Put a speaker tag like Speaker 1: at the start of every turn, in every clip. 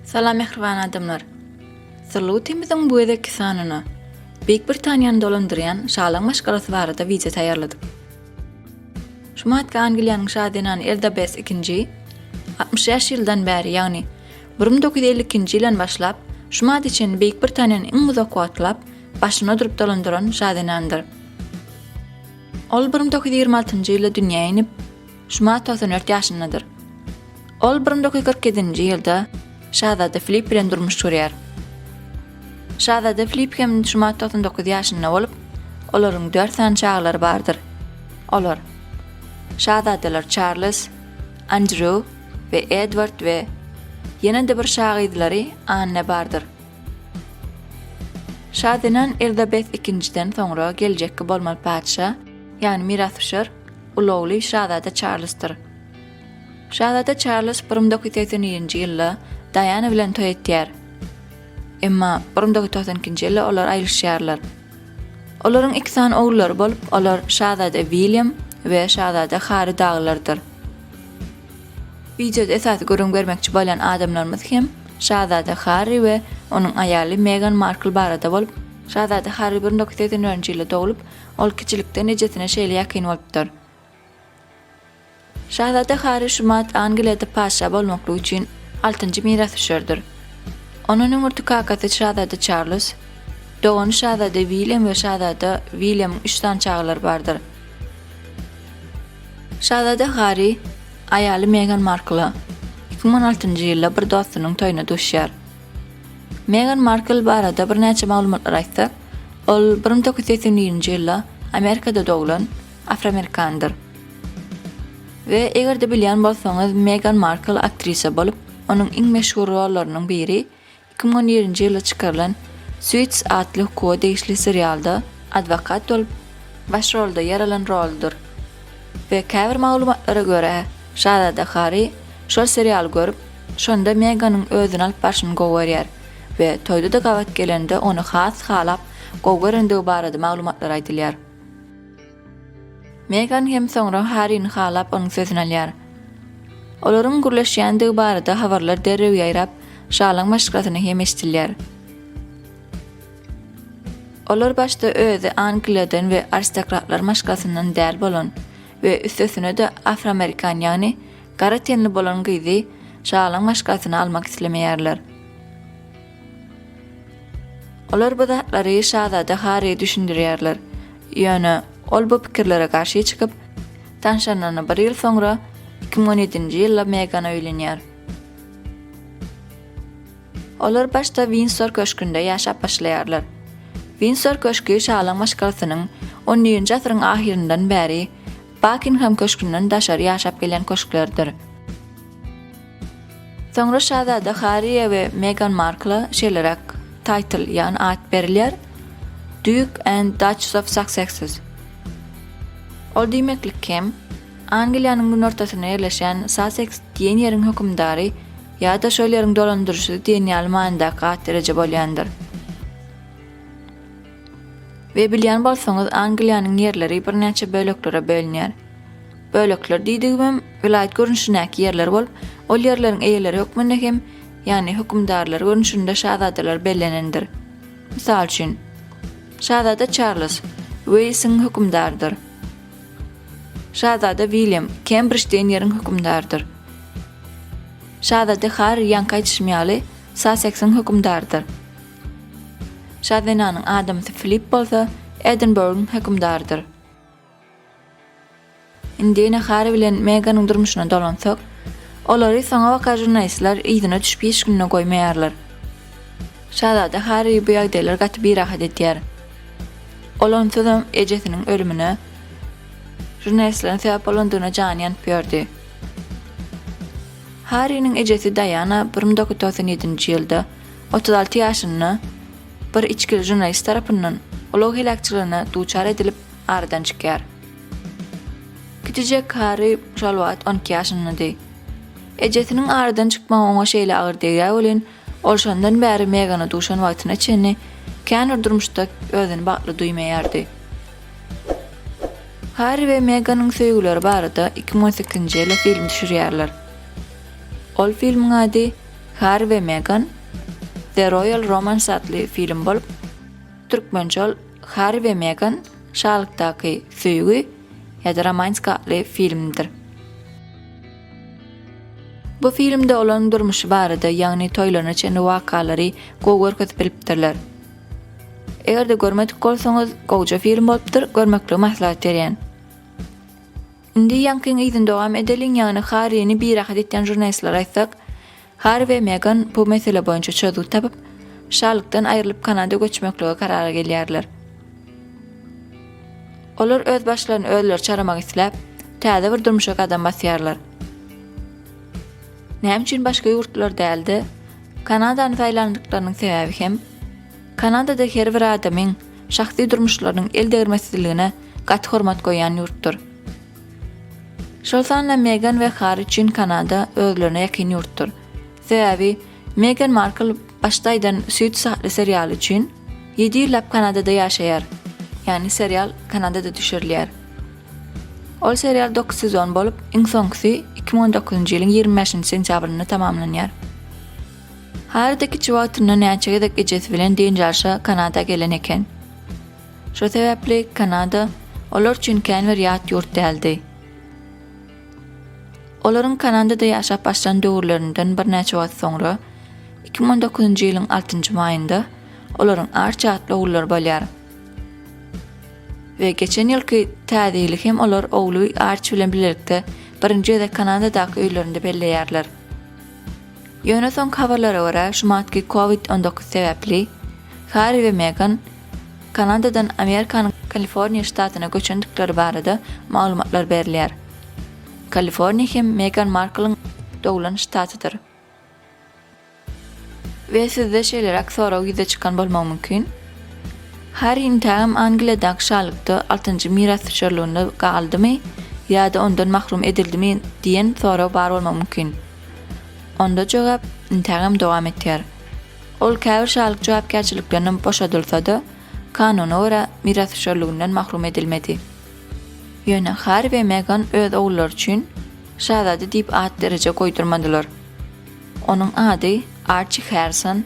Speaker 1: Salam mehriban adamlar. Sirlutimiziň bu gezekki sanyna Beýik Britaniýany dolandyrýan şalyň maşgalasy barada wideo taýýarladym. Şu matka Angliýanyň şa zenany Elizabeth II 65 ýyldan bäri, ýagny 1952-nji ýyldan başlap, şu madda çenli Beýik Britaniýanyň iň uzak wagtlap başyny ödürip dolandyran şazenandyr. Ol bir müň dokuz ýüz ýigrimi altynjy ýylda dünýä inip, şu mart togsan dört ýaşyndadyr. Ol bir müň dokuz ýüz kyrk ýedinji ýylda şazada Filipp bilen durmuş gurýar. Şazada Filipp hem şu mart togsan dokuz ýaşynda bolup, olaryň dört sany çagalary bardyr. Olar, şazadalar Çarlz, Andrew we Edward we ýene-de bir şagyzlary Anne bardyr. Şa zenan Erzabet ikinjiden soňra geljekki bolmaly patyşa, ýagny mirasdüşer, uly ogly şazada Çarlzdyr. Şazada Çarlz bir müň dokuz ýüz segsen nji ýylda Daýana bilen toý etýär. Emma bir müň dokuz ýüz togsan ikinji ýylda olar aýrylyşýarlar. Olaryň iki sany ogullary bolup, olar şazada William we şazada Harri dagylardyr. Wideoda esasy gürrüň bermekçi bolýan adamlarymyz hem şazada Harri we onuň aýaly Megan Markl barada bolup, şazada Harri bir nokta segsen dördünji ýylda doglup, ol kiçilikden ejesine şeýle ýakyn bolupdyr. Şazada Harri şumat Angliýada patyşa bolmaklyk üçin altynjy mirasdüşerdir. Onuň öňürti kakasy şazada Çarlz, dogany şazada William we şazada Williamyň üç sany çagalary bardyr. Şazada Garri aýaly Megan Markla iki müň on altynjy ýylda bir dostunyň toýuna duşýar. Megan Markl barada birnäçe maglumatlary aýtsak, ol bir müň dokuz ýüz segsen birinji ýylda Amerikada doglan afroamerikandyr. We eger-de bilýän bolsaňyz Megan Markl aktrisa bolup, onuň iň meşhur rollarynyň biri Iki müň on ýedinji ýylda çykarylan Suits atly hukuga degişli serialda adwokat bolup, baş rolda ýer alan roludyr we käbir maglumatlara görä, şazada Harri şol serialy görüp, şonda Meganyň özüni alyp barşyny gowy görýär we toýda-da gabat gelende ony has halap, gowy görendigi barada maglumatlar aýdylýar. Megan hem soňra Harrini halap onuň sözüni alýar. Olaryň gürleşýändigi barada habarlar derrew ýaýrap, şalyň maşgalasyna hem eşidilýär. Olar başda özi Angliýadan we aristokratlar maşgalasyndan däl bolan we üstesine-de afroamerikan ýagny gara tenli bolan gyzy şalyň maşgalasyna almak islemeýärler. Olar bu zatlary şazada Harri düşündirýärler, ýöne ol bu pikirlere garşy çykyp, tanşanyna bir ýyl soňra, iki müň on ýedinji ýylda Megana öýlenýär. Olar başda Windsor köşgünde ýaşap başlaýarlar. Windsor köşgi şalyň maşgalasynyň XI-nji asyryň ahyryndan bäri Bakingem köşgünden daşary ýaşap gelýän köşklerdir. Soňra şazada Harriýe we Megan Markla şeýleräk taýtl, ýagny at berilýär, Duk and Dutchs of Sussexs. Ol diýmeklik hem, Angliýanyň günortasynda ýerleşen Susseks diýen ýeriň hökümdary ýa-da şol ýeriň dolandyryjysy diýen ýaly manydaky at-dereje bolýandyr. We bilýän bolsaňyz Angliýanyň ýerleri birnäçe böleklere bölünýär. Bölekler diýdigimem welaýat görnüşindäki ýerler bolup, ol ýerleriň eýeleri hökmünde hem, ýagny hökümdarlar görnüşinde şazadalar bellenendir. Mysal üçin, Şazada Çarlz, Weýlsiň hökümdarydyr. Şazada Wilýam, Kembrij diýen ýeriň hökümdarydyr. Şazada Harri ýaňky aýdyşym ýaly, Saseksiň hökümdarydyr. Şa zenanyň adamsy Filipp bolsa Edinburgyň hökümdarydyr. Indi ene Harri bilen Meganyň durmuşyna dolansak, olary soňabaka žurnalistler yzyna düşüp hiç günde goýmaýarlar. Şazada Harri bu ýagdaýlar gaty birahat edýär. Ol onsuzam ejesiniň ölümine žurnalistleriň sebäp bolandygyna jany ýanyp ýördi. Harriniň ejesi Daýana bir müň dokuz ýüz togsan ýedinji ýylda Otuz alty ýaşynda bir içgili žurnalist tarapyndan ulag heläkçiligine duçar edilip, aradan çykýar. Kiçijek Harri Şalwat on iki ýaşyndady. Ejesiniň aradan çykmagy oňa şeýle agyr degýär welin, ol şondan bäri Megana duşan wagtyna çenli kän bir durmuşda özüni bagtly duýmaýardy. Harri we Meganyň söýgüleri barada iki müň on sekizinji ýylda film düşürýärler. Ol filmiň ady Harri we Megan, The Royal Romance atly film bolup, türkmençe ol Harri we Megan, Şalykdaky söýgi ýa-da Romantika atly filmdir. Bu filmde olaryň durmuşy barada, ýagny toýlaryna çenli wakalary gowy görkezip bilipdirler. Eger-de görmedik bolsaňyz, gowja film bolupdyr, görmeklige maslahat berýän. Indi Ýankyň yzyny dowam edeliň, ýagny Harrini birahat etýän žurnalistlere aýtsak, Harri we Megan bu mesele boýunça çözgüt tapyp, şalykdan aýrylyp Kanada göçmeklige karara gelýärler. Olar öz başlaryny özleri çaramak isläp, täze bir durmuşa gadam basýarlar. Näme üçin başga ýurtlar däl-de, Kanadany saýlandyklarynyň sebäbi hem Kanadada her bir adamyň şahsy durmuşlarynyň el degirmesizligine gaty hormat goýýan ýurtdur. Şol sanda Megan we Harri üçin Kanada özlerine ýakyn ýurtdur. Sebäbi Megan Markl başda aýdan Suits atly serialy üçin ýedi ýyllap Kanadada ýaşaýar. Ýagny serial Kanadada düşürilýär. Ol serial dokuz sezon bolup, iň soňkusy iki müň on dokuzynjy ýylyň ýigrimi bäşinji sentýabrynda tamamlanýar. Harri-de kiçi wagtyndan näçe gezek ejesi bilen dynç alyşa Kanada gelen eken. Şo sebäpli Kanada olar üçin kän bir ýat ýurt däldi. Olaryň Kanadada ýaşap başlan döwürlerinden birnäçe wagt soňra, iki müň on dokuzynjy ýylyň altynjy maýynda olaryň Arçi atly ogullary bolýar. We geçen ýylky Täze ýyly hem olar ogly Arçi bilen bilelikde birinji gezek Kanadadaky öýlerinde belleýärler. Ýöne soňky habarlara görä, şumatky Covid on dokuz sebäpli Harri we Megan Kanadadan Amerikanyň Kaliforniýa ştatyna göçendikleri barada maglumatlar berilýär. Kaliforniýa hem Megan Marklyň doglan ştatydyr. We sizde şeýleräk sorag ýüze çykan bolmagy mümkin. Harryň täm Angliýadaky şalykda altynjy mirasdüşerliginde galdymy ýa-da ondan mahrum edildimi diýen sorag bar bolmagy mümkin. Onda jogap intägem dowam etýär. Ol käbir şalyk jogapkärçiliklerinden boşadylsa-da, kanuna görä, mirasdüşerliginden mahrum edilmedi. Ýöne Harri we Megan öz ogullary üçin şazada diýip at-dereje goýdurmadylar. Onuň ady Arçi Harrison,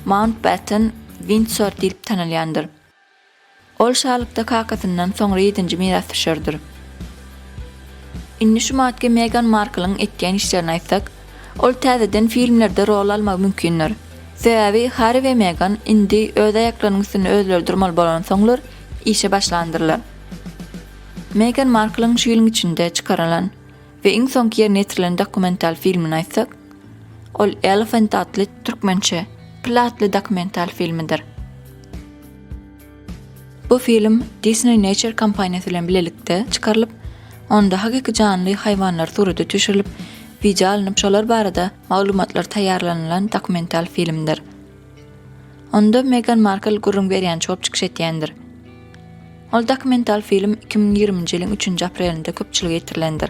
Speaker 1: Mountbatten Windsor diýlip tanalýandyr. Ol şalykda kakasyndan soňra ýedinji mirasdüşerdir. Indi şu madge Megan Marklyň etýän işlerini aýtsak, ol täzeden filmlerde rol almagy mümkindir. Sebäbi Harri we Megan indi öz aýaklarynyň üstünde özleri durmaly bolansoňlar işe başlandyrlar. Megan Marklyň şu ýylyň içinde çykarylan. we iň soňky ýerine ýetirilen dokumental filmini aýtsak, ol Elephant atly, türkmençe, Pil atly dokumental filmidir. Bu film Disney Nature kompaniýasy bilen bilelikde çykarylyp, onda hakyky janly haýwanlar surata düşürilip, wideo alnyp şolar barada maglumatlar taýýarlanylan dokumental filmdir. Onda Megan Markl gürrüň berýän çop çykyş etýändir. Ol dokumental film iki müň ýigriminji ýylyň üçünji aprelinde köpçülige ýetirilendir.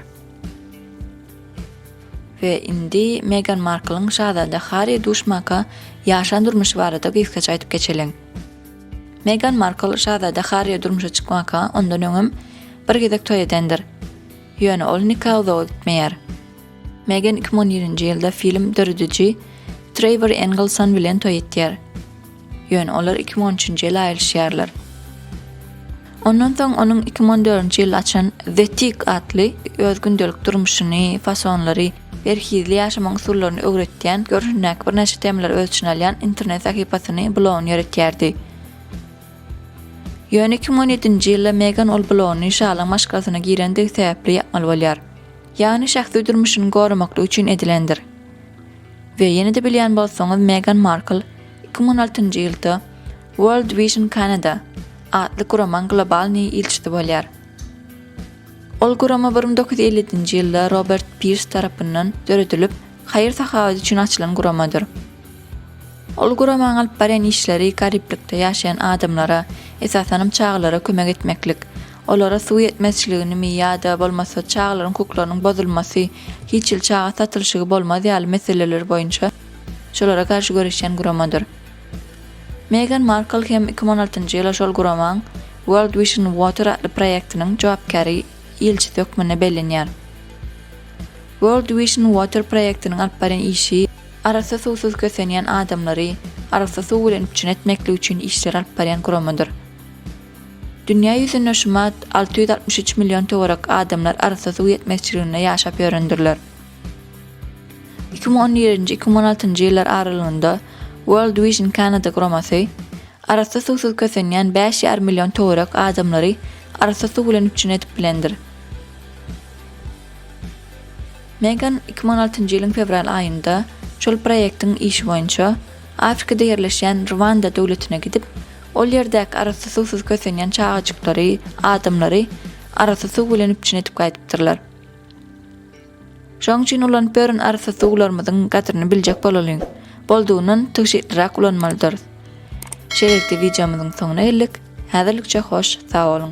Speaker 1: We indi Megan Marklyň şazada Harri duşmaka ýaşan durmuşy barada gysgaça aýdyp geçeliň. Megan Markl şazada Harri durmuşa çykmaka ondan öňem bir gezek toý edendir. Ýöne ol nika uzaga gitmeýär. Megan iki müň on ýedinji ýylda film dörediji Treýwor Engelson bilen toý etýär. Ýöne olar iki müň on üçünji ýyl aýrylyşýarlar. Ondan soň onuň iki müň on dördünji ýylda açan The Tick atly öz gündelik durmuşyny, fasonlary, berhizli ýaşamagyň usullaryny öwretýän, görnüşindäki birnäçe temalary öz içine alýan internet sahypasyny, blogyny ýöretýärdi. Ýöne iki müň on ýedinji ýylda Megan ol blogyny şalyň maşgalasyna girendigi sebäpli ýapmaly bolýar. Ýagny şahsy durmuşyny goramaklyk üçin edilendir. We ýene-de bilýän bolsaňyz Megan Markl iki müň on altynjy ýylda World Vision Canada atly guramaň global ny ilçisi bolýar. Ol gurama bir müň dokuz ýüz elli-nji ýylda Robert Pirs tarapyndan döredilip haýyr-sahawat üçin açylan guramadyr. Ol guramaň alyp barýan işleri gariplikde ýaşaýan adamlara, esasanam çagalara kömek etmeklik, Olara suw ýetmezçiligini-mi ýa-da bolmasa çagalaryň hukuklarynyň bozulmasy, hiç hili çaga satylyşygy bolmaz ýaly meseleler boýunça şolara garşy göreşýän guramadyr. Megan Markl hem iki müň on altynjy ýyla şol guramaň World Vision Water atly proýektiniň jogapkäri ilçisi hökmünde bellenýär. World Vision Water proýektiniň alyp barýan işi arassa suwsuz kösenýän adamlary arassa suw bilen üpjün etmeklik üçin işleri alyp barýan guramadyr. Dünýä ýüzünde şumat alty ýüz altmyş üç million töwerek adamlar arassa suw ýetmezçiliginde ýaşap ýörendirler. Iki müň on birinji-iki müň on altynjy ýyllar aralygynda World Vision Canada guramasy arassa suwsuz kösenýän bäş ýarym million töwerek adamlary arassa suw bilen üpjün edip bilendir. Megan iki müň on altynjy ýylyň fewral aýynda şol proýektiň işi boýunça Afrikada ýerleşýän Rwanda döwletine gidip, Ol ýerdäki arassa suwsuz kösenýän çagajyklary, adamlary arassa suw bilen üpjün edip gaýdypdyrlar. Şoň üçin ulanyp ýören arassa suwlarymyzyň gadryny biljek bolalyň. Boldugyndan tygşytlyrak ulanmalydyrys. Şeýlelikde wideomyzyň soňuna geldik. Häzirlikçe hoş sag boluň.